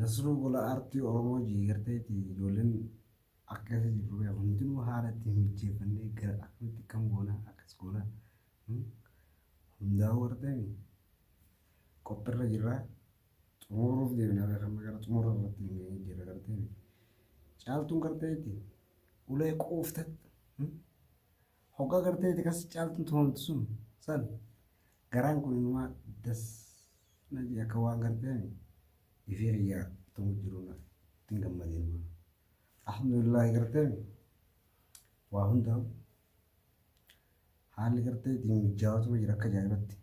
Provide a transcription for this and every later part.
Nasruu gola aartii Oromoo jiigarteeti ijoolleen akka keessa jirru beeku hundinuu haala ittiin mijeeffannee gara akkamitti akkam goona akkas goona hundaa'uu arteemi qophirra jirra xumuruuf deemna beekamma gara xumura irratti hin geenye jirra garteemi caaltuun garteeti ulee qooftat hoggaa garteeti kas caaltuun tumamtu sun san Garaan kun inumaa das na jee akka waan garteen ifii kiyyaa tumu jiru na ittiin gammadee inumaa. Alhamdulillaahi garteen waa hundaa'u haalli gartee ittiin mijjaawatuma jira akka ajaa'ibatti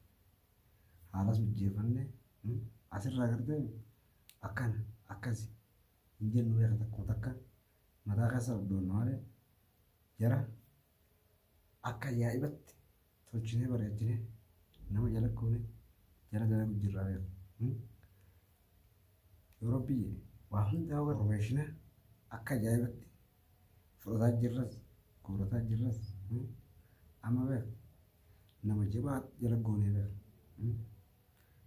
haalas mijjeeffanne asirraa garteen akkana akkasi hin jennu beeka takkuma takka mataa keessa abdoonna malee jara Akka ajaa'ibatti tolchinee bareechinee nama jala goone jara dalagu jirra beeku. Hmm? Yoo Rabbiyyee waa hundaa warrobeeshina akka ajaa'ibatti fudhataa jirras guurataa jirras. Hmm? Amma beeku nama jabaa jala goonee beeku. Hmm?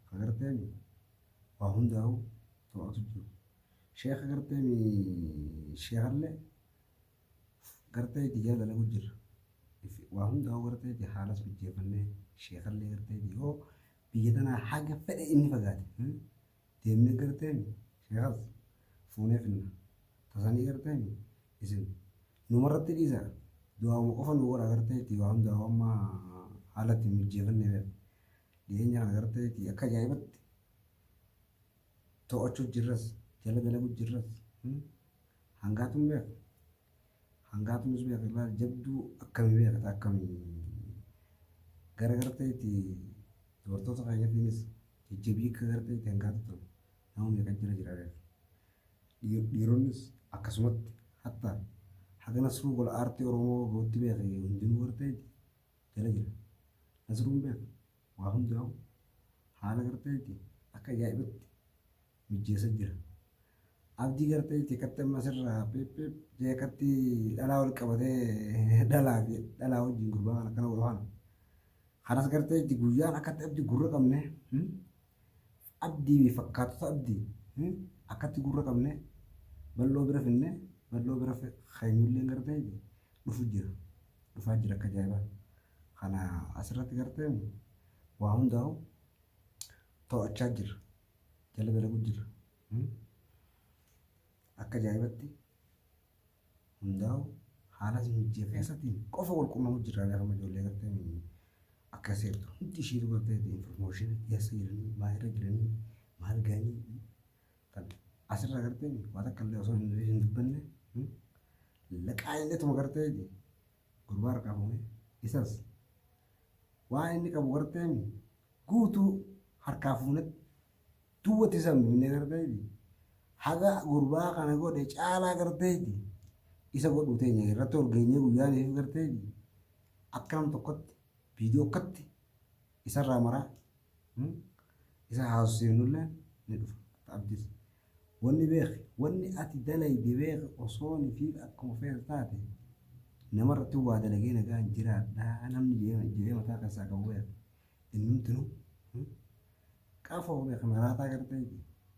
Ka garteemi waa hundaa'uu to'atu jiru. Sheeka garteemi sheekallee Gartee biyyaa dalagu jirra. If waa hundaa'uu gartee ti haalas mijjeeffannee sheekallee gartee ti yoo biyya tanaa haga fedhe inni fagaate hmm, deemnee gartee mi sheekas fuunee finna. Tasanii gartee mi isin numarratti dhiisa du'aa'uma qofa nu godha gartee ti waa hundaa'uu amma haala itti mijjeefannee beeka. Dhiyeenya kana gartee ti akka ajaa'ibatti to'achuu jirras jala dalagu jirras. hmm. Hangaatu hin beeka. Hangaatu nus beeka ilaali jabduu akkami beekata akkami gara garteetti dubartoota keenyatiinis jajjabii akka garteetti hangaatu ture nama meeqa jira jira beeka. Dhiir- Dhiironnis akkasumatti hatta haga nasruu gola aartii Oromoo gootti beeka hundinuu garteetti jala jira. Nasruun beeka waa hundaa'u haala garteetti akka ajaa'ibatti mijjeessa jira. Abdii gartee jeekatti amma sirraa peeppeep jeekatti dhalaa wal qabatee dhalaa fi dhalaa wajjin gurbaa kana kana godhu kana. Kanas gartee itti guyyaan akkatti abdii gurra qabne abdii fi fakkaatota abdii akkatti gurra qabne bal'oo bira finne bal'oo bira keenyullee gartee dhufu jira. Dhufaa jira akka jaa'ibaa. Kana asirratti gartee waa hundaa'u to'achaa jira. jala dalagu jirra. Akka ajaa'ibatti hundaa'u haala mijjee keessatti qofa wal quunnamu jirra gaafa ijoollee gartee akka seertu hundi ishiitu gartee informooshinii keessa jiranii maal irra jiranii maal gahanii kan asirra gartee waan akka illee osoo hin dubbanne laqaa illee tuma gartee Gurbaa harkaa fuune isas waan inni qabu garteem guutuu harkaa fuune duwwatti san binne garteeti haga gurbaa kana godhe caalaa garteeti isa godhuu teenya irratti ol geenyee guyyaaniif garteeti akka nam tokkotti viidiyoo akkatti Isarraa maraa isa haasofsiifnulleen ni dhufa. Ati abdis. Wanni beeki, wanni ati dalayde beeki osoo nifiif akkuma feetu taate namarratti waa dalagee nagaan jiraadha namni jedhee mataa keessaa qabu beeki. Innumtinu qafoo beeki maraataa gartee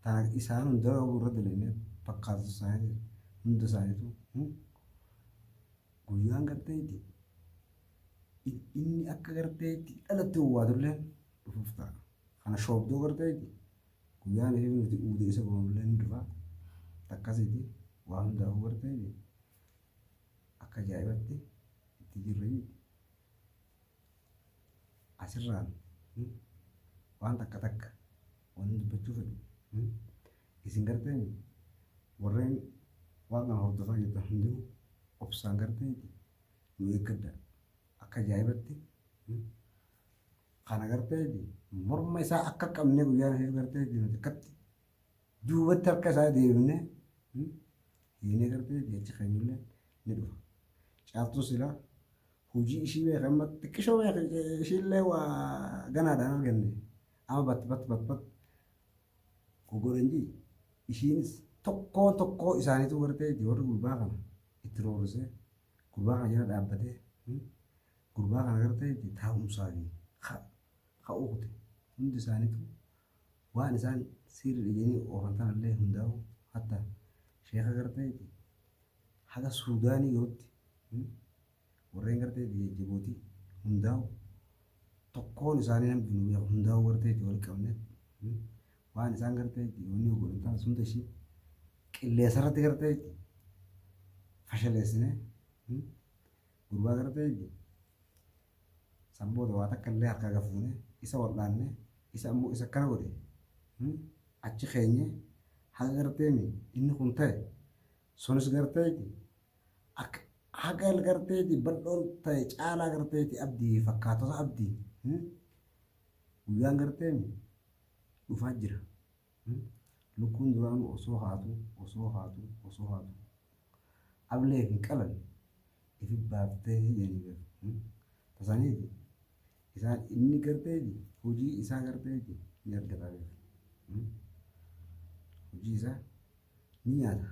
tana isaan hundarra irra dalayne fakkaatu isaanii hunda isaaniitu Guyyaan gartee itti inni akka gartee itti dhalatti owwaatullee dhufuuf ta'a. Kana shoobdoo gartee itti guyyaan ishee nuti uudee isa goonullee ni dhufa. Takkasiiti waa hundaafuu gartee itti akka ajaa'ibatti itti jirra jechuudha. Asirraan waan takka takka Wanni dubbachuu fedhu hmm? isin garteeni warreen waan kana hordofaa jirtan hundinuu obsaan garteeti nu eeggadha akka ajaa'ibatti hmm? kana garteeti morma isaa akka qabnee guyyaa nasiif garteeti nuti akkatti duubatti harka isaa deebinee hmm? hiinee garteeti achi keenyullee ni dhufa caaltuu silaa hojii ishii beekan xiqqishoo beekan ishiillee waa ganaadhaan arganne. Ama bat bat bat bat gogorenjii ishiinis tokkoo tokkoo isaaniitu gartee warri gurbaa kana itti roorrisee gurbaa kana jala dhaabbatee hmm, gurbaa kana gartee itti taa'umsaa fi ka- ka'uu kute hundi isaaniitu waan isaan siirri dhiganii oofan tanallee hundaa'u hatta sheeka gartee itti haga suudaanii yootti hmm, Warreen gartee biyya Jibuuti hundaa'u tokkoon isaanii namni nu beeku hundaa'u gartee itti wal qabne waan isaan gartee itti wanni godhan taas hunda ishii qilleensa irratti gartee itti fashaleessine gurbaa gartee itti sanboota waa takka illee harkaa gafuune isa wal'aanne isa ammoo isa akkana godhe achi keenye haga gartee inni kun ta'e Sunis garteeti akka haga garteeti bal'oon ta'e caalaa garteeti abdii fi fakkaatota abdii hmm? guyyaan garteemi dhufaa jira hmm? lukkuun duraanu osoo haatu osoo haatu osoo haatu ablee fi qalan ifi baaftee jedhanii beeku hmm? tasaniiti isaan inni garteeti hojii isaa garteeti ni argataa beeku hmm? hojii isaa ni nyaata.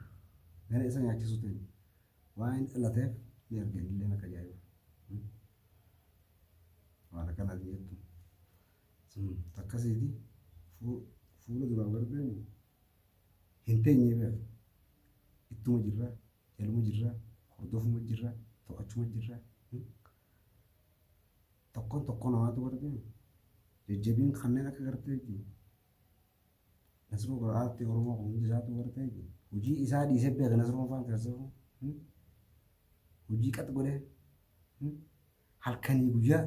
Gara isa nyaachisuutiin waan inni dhalateef ni arga innillee akka ajaa'iba. Waan akkanaati jettu. Sun takkasiiti fuula duraan warri deemu hin teenye beeku. Ittuma jirra, jaluma jirra, hordofuma jirra, to'achuma jirra. Tokkoon tokkoo namaatu warri deemu. Jajjabiin kanneen akka garteetti Nasruu bara aartii Oromoo kan hundi isaatu bartee jiru. Hojii isaa dhiisee beeka Nasruun faan keessoo. Hojii qax godhee. Halkanii guyyaa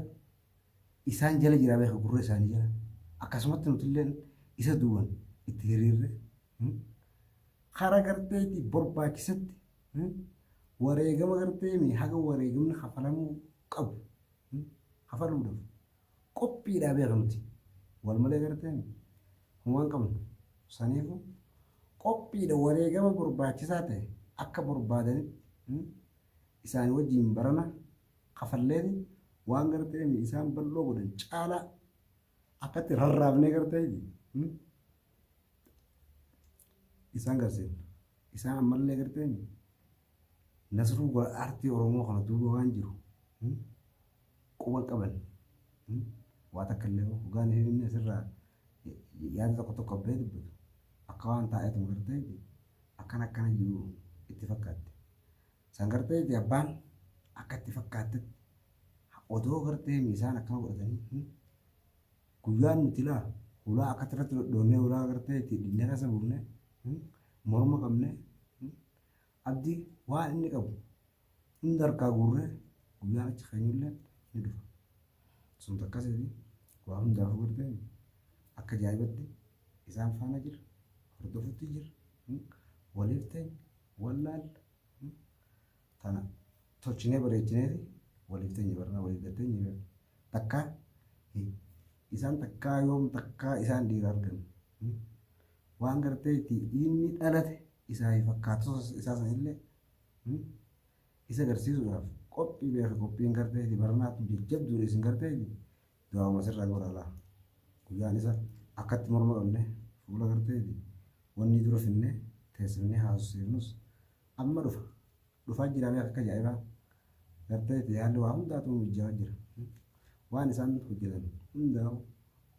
isaan jala jiraa beeka gurra isaanii jala. Akkasumatti nuti illee isa duuban itti hiriirre. Kara garteetti barbaachisetti wareegama gartee haga wareegamni kafalamuu qabu kafaluudhaaf Qophiidha beeka nuti wal malee gartee homaa hin qabnu. Saniifu qophiidha wareegama barbaachisaa ta'e akka barbaadanitti isaanii wajjiin barana kafalleeti waan gartee isaan bal'oo godhan caalaa akkatti rarraafnee gartee isaan garsiifna. Isaan ammallee gartee nasruu aartii Oromoo kana duuba waan jiru quba qaban waa takka illee hogaa ni himne asirraa yaada tokko tokko abbee dubbatu akka waan taa'eetu magartee akkana akkana jiru itti fakkaatte. San gartee abbaan akka itti fakkaattetti odoo gartee miisaan akkana godhatanii guyyaan nuti laa hulaa akkatti irratti dhodhoonnee hulaa gartee itti dhinnee keessa buufne morma qabne Abdi waan inni qabu hunda harkaa guurree guyyaan achi keenyullee ni dhufa. Sun takkasiiti waa hundaafuu gartee akka jaa'ibatti isaan faana jira hordofutti jira hmm, waliif ta'e wallaalla hmm, tana tolchinee bareechineeti waliif ta'e barnaa waliif gattee ni beekna. Takka hi- isaan takkaa yoom takkaa isaan dhiira argan hmm, waan gartee itti inni dhalate isaa fi fakkaattoota isaa sanillee isa garsiisuudhaaf qophii beeka qophiin garteeti baranaa kun jajjabduudha isin garteeti du'aama sirraa godha laa guyyaan isa akkatti morma qabne fuula garteeti wanni dura finne teessifnee haasofsiifnus amma dhufa dhufaa jiraamee akka ajaa'ibaa garteeti haalli waa hundaatu mijjaa jira waan isaan hojjetan hundaa'u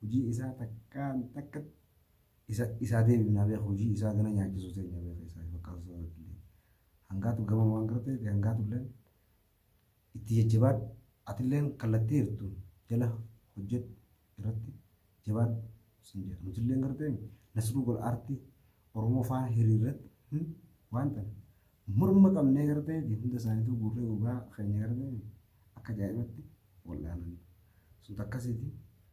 hojii isaa takkaan takkatti Isa isaa deebifnaa beek hujii isaa gana nyaachisuu teenya beek isaa hin fakkaatu sababa illee hangaatu gaman waan gara ta'eef hangaatu illeen itti jajjabaadhu ati illeen kallattii hirtuun jala hojjedhu irratti jabaadhu sin jedha nuti illeen gara ta'eef nasruu gol aartii oromoo faana hiriirratti hin waan ta'an morma qabnee gara ta'eef hunda isaaniituu guurree gogaa keenya gara ta'eef akka ajaa'ibatti wal'aanan sun takkasiiti